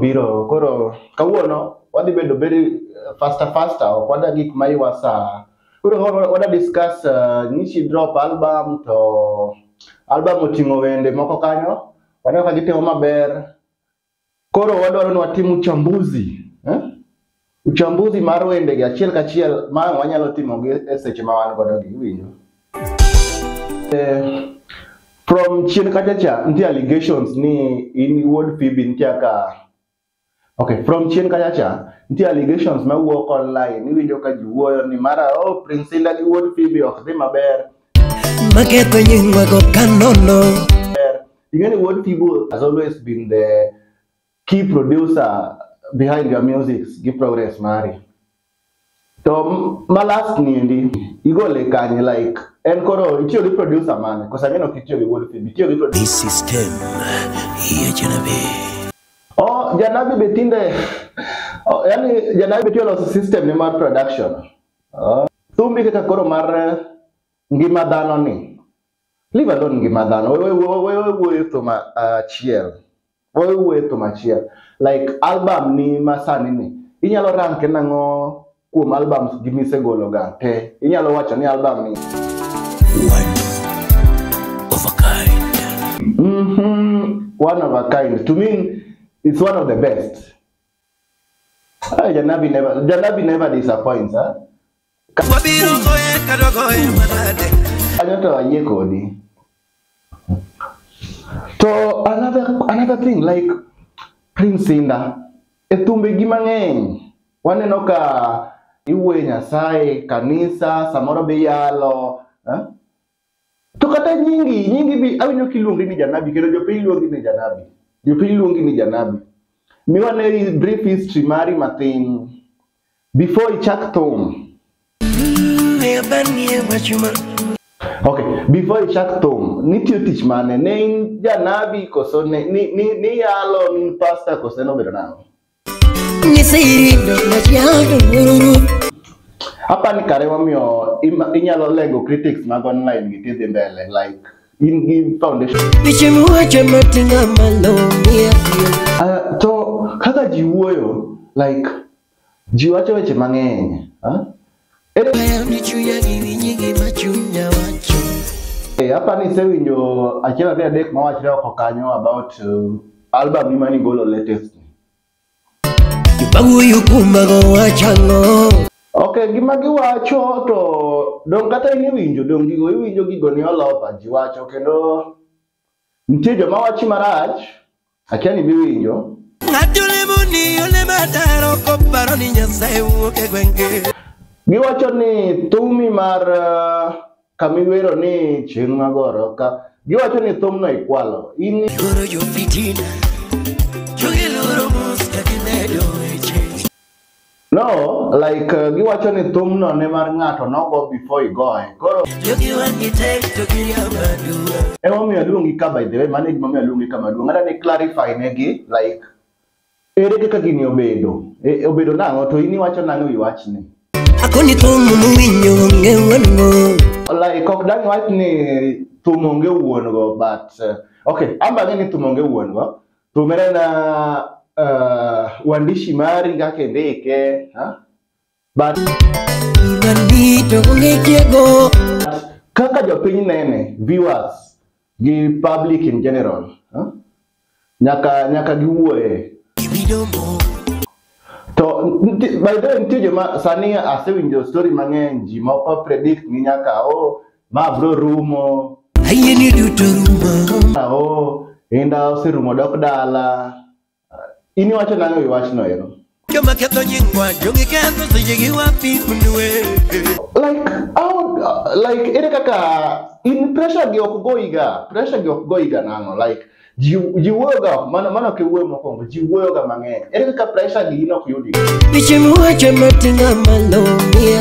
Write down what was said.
biro koro kawuono wadhi bedo very uh, faster faster ok wada gik ma iwa saa koro wa- wada discuss uh, nishi drop album to album oting'o wende moko kanyo waneno ka gitimo maber koro wadwaro ni watim uchambuzi eh? Uchambuzi mar wendegi achiel kachiel ma wanyalo timogi e seche ma wan godo gi iwinjo. Eh, from chien kacha cha nitie allegations ni in wuod Phoebe nitie kaka Okay, from chien kacha cha nitie allegations ma wuok online iwinjo ka ji wuoyo ni mara oh Prince Indah gi wuod Phoebe ok dhi maber. Maketho nyingwa go kanono. Ing'e ni wuod Phoebe has always been the key producer behind your music gi progress mari to ma last niendi igole kanye like en koro itiyo gi producer mane kosa mino kitiyo gi wuod film itiyo gi producer This system hiyo janabi. oh janabi be tinde oh, yani janabi be tiyo loso system ne mar production oh. thumbi kaka koro mar eh, ngima dhano ni leave alone ngima dhano wewe wewe wuoyo thum achiel Owe wuoye thum achiel. Like album ni masani ni. Inyalo ranke nang'o kuom albums gi misegolo ga te. Inyalo wacho ni album ni. One of a kind. Mm -hmm. One of a kind. To me, it's one of the best. Ay, Janabi never, Janabi never disappoints, huh? Wabiro goye kata goye manade. Kanyo to ayie kodi. To another another thing like Prince Inda e thumbegi mang'eny waneno ka iwuoyo Nyasaye, kanisa, samoro be iyalo eh? To kata nyingi, nyingi bi awinjo kiluongi ni janabi kendo jopiny luongi ni janabi. Jopiny luongi ni janabi. Miwane brief history mari mathin before ichak thum. Okay, before ichak thum, nitiyo tich mane? Ne in janabi koso ne ni ni ni yalo ni pastor koso ne obedo nang'o? Hapa ni kare wamiyo ima- inyalo lego critics mag online gi tidhi mbele like in gi foundation Piche muwacho matinga malo miya tiyo Ah, to kaka ji wuoyo like ji wacho weche mang'eny ah? Eh, hapa ni sewinjo achiel ariyo adek mawachre oko kanyo about uh, album ni mani golo latest Banguyu kumbago wachango ok gima giwacho to dong kata in iwinjo dong gigo iwinjo gigo ni olopa ji wacho kendo nitie joma wachi marach Akia ni miwinjo. Ng'ato lemo ni ole madaro koparo ni Nyasaye wuok e gwenge. Giwacho ni thumi mar uh, kamiwero ni chieng' magoro ka giwacho ni thumno ikwalo in Loro jo fitina. Jogi loro mos ka gimedo weche. No, like uh, giwacho ni thumno ne mar ng'ato nogo before igoye. Koro Jogi wan gi tek to giriambo aduwa. emomiyo aluongi ka by the way, mano e gimomiyo aluongi ka maduong'. Ng'ata ni clarify negi like ere kaka gini obedo? E, obedo nang'o to in iwacho nang'o wi wachni? Akoni thum muwinjo onge wuongo. Like ok dang' wach ni thum onge wuon go but uh, okay, an bang'e ni thum onge wuon go Tumira na uh, uandishi mari kaka indike ha? But kaka jopiny nene viewers gi public in general ha? nyaka nyaka giwuoye to nti- by the way nitie joma sani asewinjo story mang'eny ji moko predict ni nyaka o Ma bro rumo. Ayie ni duto rumo. Ao, inda oserumo dok dala. In iwacho nang'o e wachno ero? Joma ketho nyingwa, jongi ketho seche gi wapi kunwe. Like, how, like, ere kaka in pressure gi ok goiga, pressure gi ok goiga nang'o, like, ji ji wuoyoga mano mano kiwuoyo mokwongo ji wuoyoga mang'eny ere kaka pressure gi in ok yudi Biche muwacho matinga malo miya